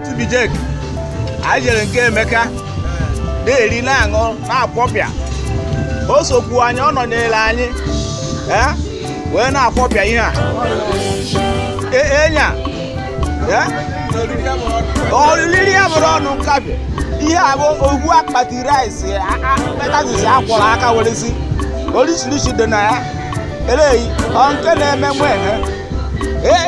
tubijek anyị jere nke emeka na-eri na-aṅụ na-akwọpịa o sokwu anyị ọ nọnyere anyị ee wee na-akwọpịa ihe a E- enya ee oriri a abụrọ ọnụ nkapị ihe a bụ ogwu akpati rice mm that is a kwọrọ aka were sie orishirishi dị na ya eleghị ọ nke na-eme nwe ha ee